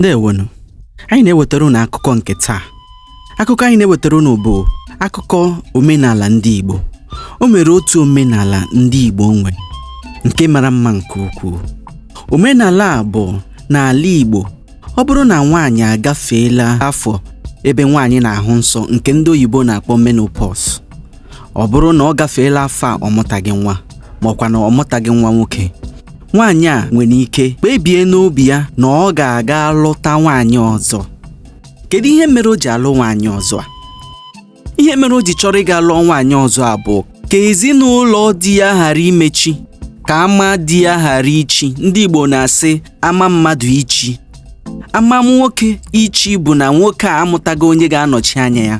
ndewo nụ anyị na-ewetara unu akụkọ nke taa akụkọ anyị na-ewetara unu bụ akụkọ omenala ndị Igbo o nwere otu omenala ndị Igbo nwe nke mara mma nke ukwuu omenala a bụ n'ala Igbo ọ bụrụ na nwaanyị agafeela afọ ebe nwaanyị na-ahụ nsọ nke ndị oyibo na-akpọ menopause ọ bụrụ na ọ gafeela afọ a ọ mụtaghị nwa ma ọ kwanụ ọ mụtaghị nwa nwoke nwaanyị a nwere ike kpebie n'obi ya na ọ ga-aga lụta nwaanyị ọzọ kedu ihe mere o ji alụ nwaanyị ọzọ a ihe mere o ji chọrọ ịga lụọ nwaanyị ọzọ a bụ ka ezinụlọ di ya ghara imechi ka ama di ya ghara ichi ndị Igbo na-asị ama mmadụ ichi ama nwoke ichi bụ na nwoke a amụtaghị onye ga-anọchi anya ya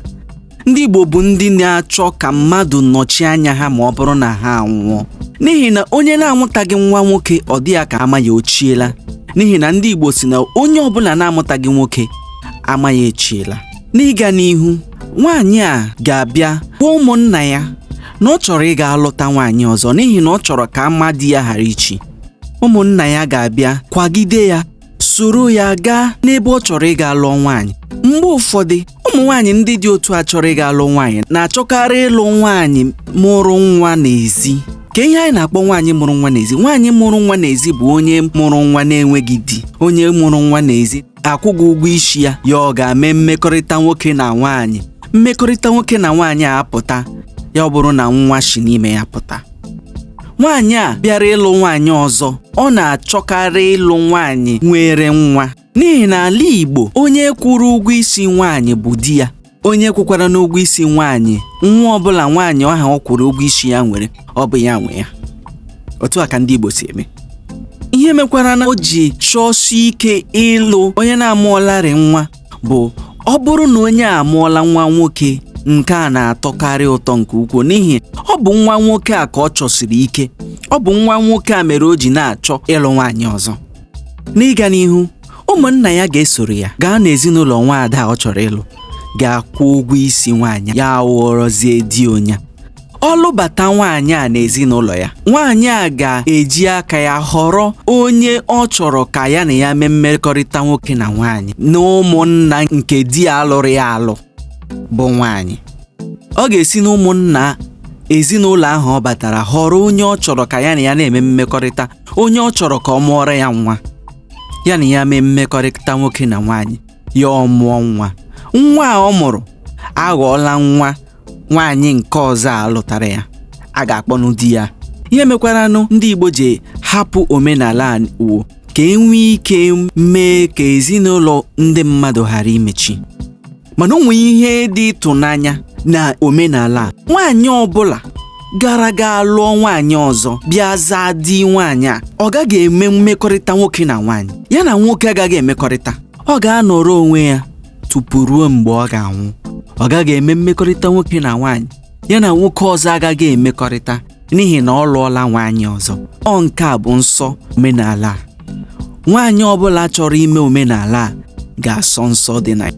ndị Igbo bụ ndị na-achọ ka mmadụ nọchi anya ha ma ọ bụrụ na ha anwụọ n'ihi na onye na-amụtaghị nwa nwoke ọ dị ya ka ama ya o chiela n'ihi na ndị Igbo sị na onye ọbụla na-amụtaghị nwoke ama ya echiela n'ịga n'ihu nwaanyị a ga-abịa gwa ụmụnna ya na ọ chọrọ ịga alụta nwaanyị ọzọ n'ihi na ọ chọrọ ka ama di ya ghara ichi ụmụnna ya ga-abịa kwagide ya soro ya gaa n'ebe ọ chọrọ ịga lụọ nwaanyị mgbe ụfọdụ ụmụ nwaanyị ndị dị otu a chọrọ ịga lụọ nwaanyị na-achọkarị ịlụ nwaanyị mụrụ nwa n'ezi kee ihe anyị na-akpọ nwaanyị mụrụ nwa n'ezi nwaanyị mụrụ nwa n'ezi bụ onye mụrụ nwa na-enweghị di onye mụrụ nwa n'ezi akwụghị ụgwọ isi ya ya gaa mee mmekọrịta nwoke na nwaanyị mmekọrịta nwoke na nwaanyị a apụta ya ọ bụrụ na nwa si n'ime ya pụta nwaanyị a bịara ịlụ nwaanyị ọzọ ọ na-achọkarị ịlụ nwaanyị nwere nwa n'ihi n'ala Igbo onye kwụrụ ụgwọ isi nwaanyị bụ di ya onye kwụkwaranụ ụgwọ isi nwaanyị nwa ọbụla nwaanyị ahụ ọ kwụrụ ụgwọ isi ya nwere ọ bụ ya nwe ya otu a ka ndị Igbo si eme ihe mekwaranụ o ji chọọsi ike ịlụ onye na-amụọlarị nwa bụ ọ bụrụ na onye a amụọla nwa nwoke nke a na-atọkarị ụtọ nke ukwuu n'ihi ọ bụ nwa nwoke a ka ọ chọsiri ike ọ bụ nwa nwoke a mere o ji na-achọ ịlụ nwaanyị ọzọ n'ịga n'ihu ụmụnna ya ga-esoro ya gaa n'ezinụlọ nwaada ọ chọrọ ịlụ gaa kwụọ ụgwọ isi nwaanyị ya aghọọrọzie di onye a ọ lụbata nwaanyị a n'ezinụlọ ya nwaanyị a ga-eji aka ya họrọ onye ọ chọrọ ka ya na ya mee mmekọrịta nwoke na nwaanyị n'ụmụnna nke di ya a lụrụ ya alụ bụ nwaanyị ọ ga-esi n'ụmụnna ezinụlọ ahụ ọ batara họrọ onye ọ chọrọ ka ya na ya na-eme mmekọrịta onye ọ chọrọ ka ọ mụọrọ ya nwa ya na ya mee mmekọrịta nwoke na nwaanyị ya ọ mụọ nwa nwa a ọ mụrụ aghọọla nwa nwaanyị nke ọzọ a lụtara ya a ga-akpọnụ di ya ihe mekwaranụ ndị Igbo ji hapụ omenala a wụ ka enwee ike mee ka ezinụlọ ndị mmadụ ghara imechi mana o nwere ihe dị ịtụnanya na omenala a nwaanyị ọbụla gara ga lụọ nwaanyị ọzọ bịa zaa di nwaanyị a ọ gaghị eme mmekọrịta nwoke na nwaanyị ya na nwoke agaghị emekọrịta ọ ga-anọrọ onwe ya tupu ruo mgbe ọ ga-anwụ ọ gaghị eme mmekọrịta nwoke na nwaanyị ya na nwoke ọzọ agaghị emekọrịta n'ihi na ọ lụọla nwaanyị ọzọ ọ nke a bụ nsọ omenala a nwaanyị ọbụla chọrọ ime omenala a ga-asọ nsọ dị na ya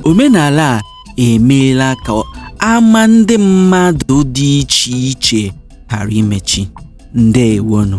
omenala a emeela ka ama ndị mmadụ dị iche iche ghara imechi ndewonụ